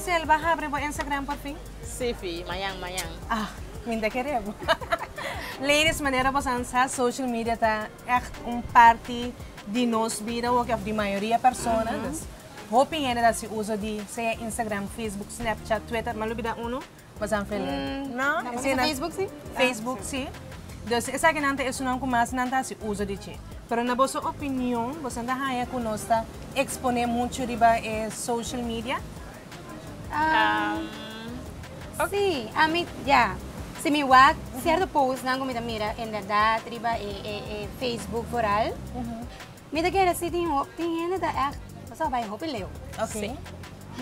Sel ba habri bo Instagram por fin? Sí fi, mañan mañan. Ah, mi ta kere bo. Ladies, manera bosanan sa, social media ta echt un parti di nos bida hopi of di mayoria persona. Hopi hende ta hasi uso di sea Instagram, Facebook, Snapchat, Twitter, ma lo bida uno? Pasan fel den. No. Esaki ta Facebook si? Facebook si. Dus esaki nan ta e sunan ku mas nan ta hasi uso di dje. Pero na boso opinion, boso no ta haña ku nos ta eksponé muchu riba e social media? Si, ami ya. Si mi wak sierto postnan ku mi ta mira en bèrdat riba e Facebook vooral. Mi ta kere si tin ho tin hende ta echt paso a bai hopi leu. Ok.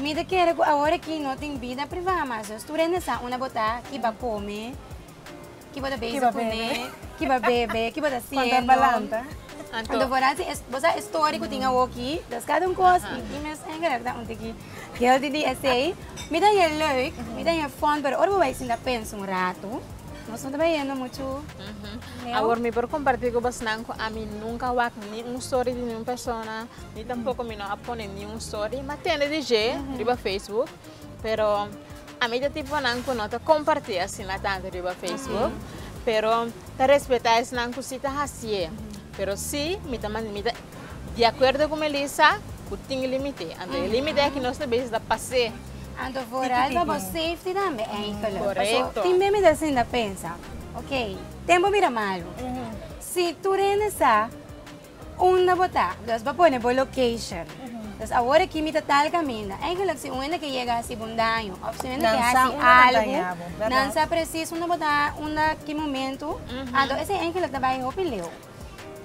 Mi ta kere ku awor aki no tin bida privá mas nos tur hende sa una bo ta, ki bo kome, ki bo ta bezig kuné, ki bo a bebe, ki bo ta siendo. Konta palanta. Anto bo ta si bo sa e story ku tin awo ki dos kada un kos i tin mes hende ta un tiki heelthy di esei. Mi ta he leuk, mi ta he fòn pero ora bo bai sinta pensa un ratu nos no ta bai hendo muchu. Awor mi por kompartí ku bosnan ku ami nunka wak ni un stori di niun persona, ni tampoko mi no a pone niun stori. Mi a tende di dje riba Facebook, pero ami ta tiponan ku no ta kompartí asina tantu riba Facebook. Pero ta respetá esnan ku si ta hasié. Pero si, mi ta mi ta di akuerdo ku Melissa ku tin límite. Anto e límite aki nos ta bisa ta pas'é. Anto for algo about safety tambe. Korekto. Tin mei mi ta sinta pensa. Ok, ten bo mira malu. Si tur hende sa unda bo ta, dus bo pone bo location. Dus awor aki mi ta tal kaminda. Eigenlijk si un hende ke yega hasi bo un daño òf si un hende ke hasi algu, nan sa presis unda bo ta, unda ki momentu. Anto esei eigenlijk ta bai hopi leu.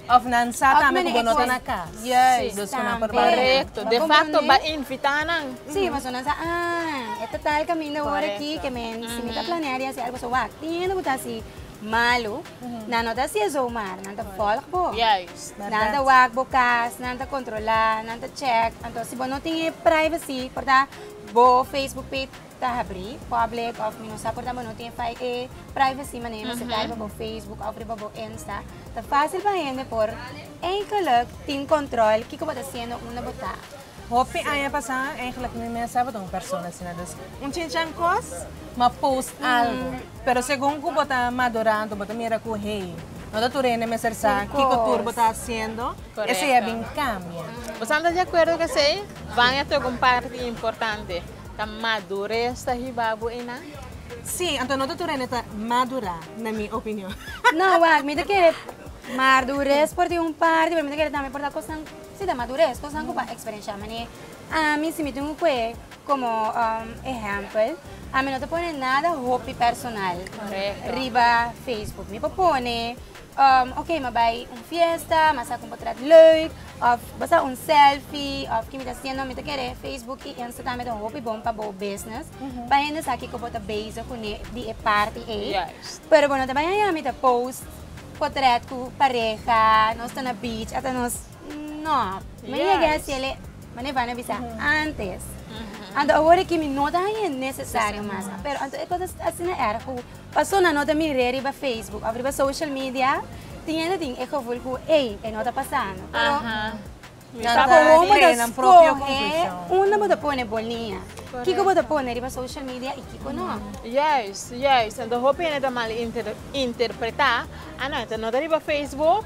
Of nan sa tambe ku bo no ta na kas. Yes. Tambe. Dos ku nan por bai aden. Korekto. De fakto bai invitá nan. Sí, pasobra nan sa, ah, e ta ta el kaminda ora aki ke mi si mi ta planea di hasi algu so wak. Tin hende ku ta hasi malu, nan no ta hasi eso mar nan ta vòlg bo. Juist. Bèrdat. Nan ta wak bo kas, nan ta kontrolá, nan ta chèk. Anto si bo no tin e privacy, por ta bo facebook page. ta habri public of mi no sa por ta mano tin fai e privacy manera mi sitai riba bo facebook of riba bo insta ta facil pa hende por eigenlik tin control kiko bo ta haciendo unda bo ta Hopi aña pasa eigenlik mi mes sa bo un persona asina dus un chinchan cos ma post algo pero segun cu bo ta madurando bo ta mira cu hey no ta tur hende mester sa kiko tur bo ta haciendo esey a bin cambia. Boso a ta di acuerdo cu esey? Baña toca un parti importante. Ta madures ta hiba bo ena? Sí, anto no ta tur hende ta madura, na mi opinion. No, wak, mi ta kere madures por tin un parti, pero mi ta kere tambe por ta kosnan, sí ta madures, kosnan ku pa eksperenshá. Manera ami, si mi tin un kue komo ehèmpel, ami no ta pone nada hopi personal riba facebook. Mi por pone. Oke, m'a bai un fiesta, m'a sa ku un potret leuk, òf bo sa un sèlfi, òf kimi ta siendo, mi ta kere Facebook i Instagram ta un hopi bon pa bo business, pa hende sa kiko bo ta bezig kuné di e parti ei. Pero bo no ta bai haña mi ta post potret ku pareha, nos ta na beach, ata nos. No, mi no yega hasi el e, mane Vane a bisa antes. Anto awor ki mi no ta haña e nesesario mas. Pero anto e kos asina era ku pasobra nan no ta mir'é riba facebook òf riba social media, tin hende tin e gevoel ku ei, e no ta pasando. Pero ta por wou bo ta skohe unda bo ta pone bo liña. Kiko bo ta pone riba social media i kiko no. Juist, juist. Anto hopi hende ta mal interpretá, a no, e ta nota riba facebook,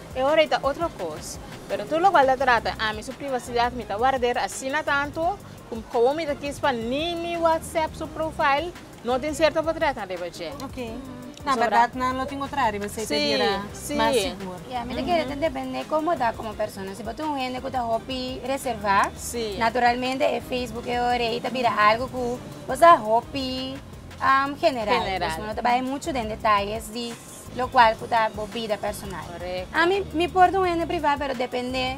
E ora ei ta otro kos, pero tur lokual ta trata ami su privasidat mi ta warder asina tantu ku komo mi ta kis pa ni mi whatsapp su profile no tin sierto potretten riba dje. Ok. Na berdad nan lo tin otra riba esei ta bira mas sigur. Ya, mi ta kere ta depende komo ta komo persona. Si bo ta un hende ku ta hopi reservá, naturalmente e facebook e ora ei ta bira algu ku bo sa hopi general, no ta bai muchu den detalles di. lo cual cu ta bo bida personal. Correcto. Ami, mi por ta un hende privá, pero depende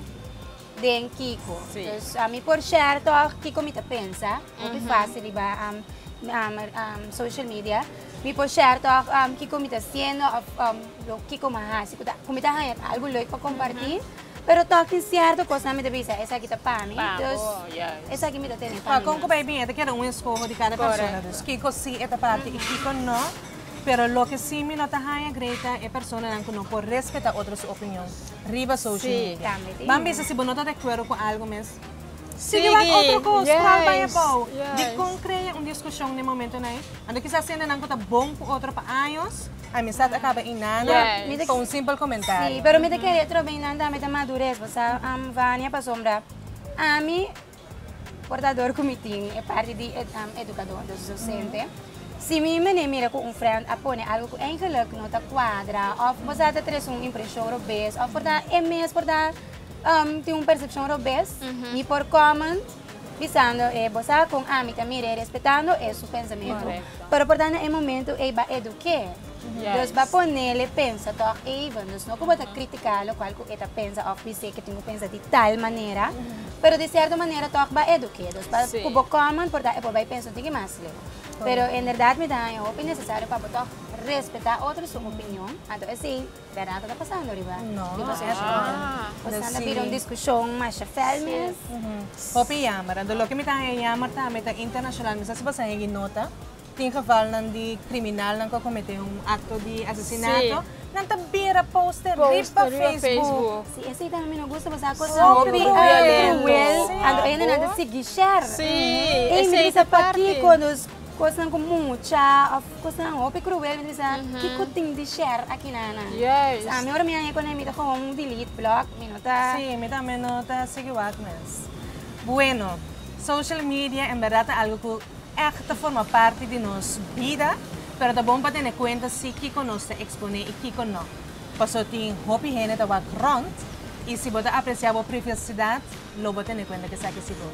den kiko. Sí. Dus ami por share toch kiko mi ta pensa, hopi fácil riba am, am, am, social media. Mi por share toch am, kiko mi ta haciendo of am, lo kiko mi a haci, cu ta, cu mi ta haña algo leuk pa compartí. Pero toch tin cierto cosnan mi ta bisa, esaki ta pa mi. Pa bo, juist. Esaki mi ta tene pa mi. Con cu bay bien, e ta keda un escoho di cada persona. Correcto. Dus kiko sí e ta pa ti y kiko no. Pero loke si mi no ta haña grei ta e personanan ku no por respetá otro su opinion riba social media. Ban bisa si bo no ta de akuerdo ku algu mes sigui wak otro kos kual bai abou. Dikon krea un diskushon den momentonan ei? Anto kisas hendenan ku ta bon ku otro pa años amistat a kaba inana pa un simpel komentario. Pero mi ta kere atrobe inandaami ta madures, pask Vania pasobra ami. Portador ku mi tin e parti di edukador, entonces docente. Si mi mene mira ku un frènt a pone algu ku eingeluk no ta kuadra òf bo sa ta trese un impreshon robes òf por ta e mes por ta tin un persepshon robes, mi por kòment bisando e bo sa kon ami ta mira e respetando e su pensamentu, pero por ta na e momentu ei ba eduk'é. Nos ba ponele pensa tog even, nos no ku bo ta kritika lokual ku e ta pensa òf di se ke tin ku pensa di tal manera, pero di sierto manera tog ba eduke. Dus pa ku bo comment por ta e por bai pensa un tiki mas leu. Pero en bèrdat mi ta haña hopi nesesario pa bo tog respetá otro su opinion, anto esei bèrdat no ta pasando riba di boso skol. Kosan ta bira un diskushon masha fèl mes. Hopi yammer. Anto loke mi ta haña yammer ta mi ta internashonal mi sa si bo sa hegi nota. Tin gevalnan di criminalnan cu a comete un acto di asesinato, nan ta bira poster riba Facebook. Si esey ta mi no gusta pasobra e cosnan ta cruel. Anto e hende nan ta sigui share. Ey mi ta bisa pakico nos cosnan cu mucha of cosnan hopi cruel mi ta bisa kico tin di share aki nana. Sa mi ora mi a hey cu nan mi ta gewoon delete, block, mi no ta. Si, mi tambe no ta sigui wak mes. Bueno, social media en berdad ta algo cu. Èk ta forma parti di nos bida, pero ta bon pa tene kuenta si kiko nos ta eksponé i kiko nò. Paso tin hopi hende ta wak rònt, i si bo ta apresiá bo privasidat, lo bo tene kuenta ku esaki sigur.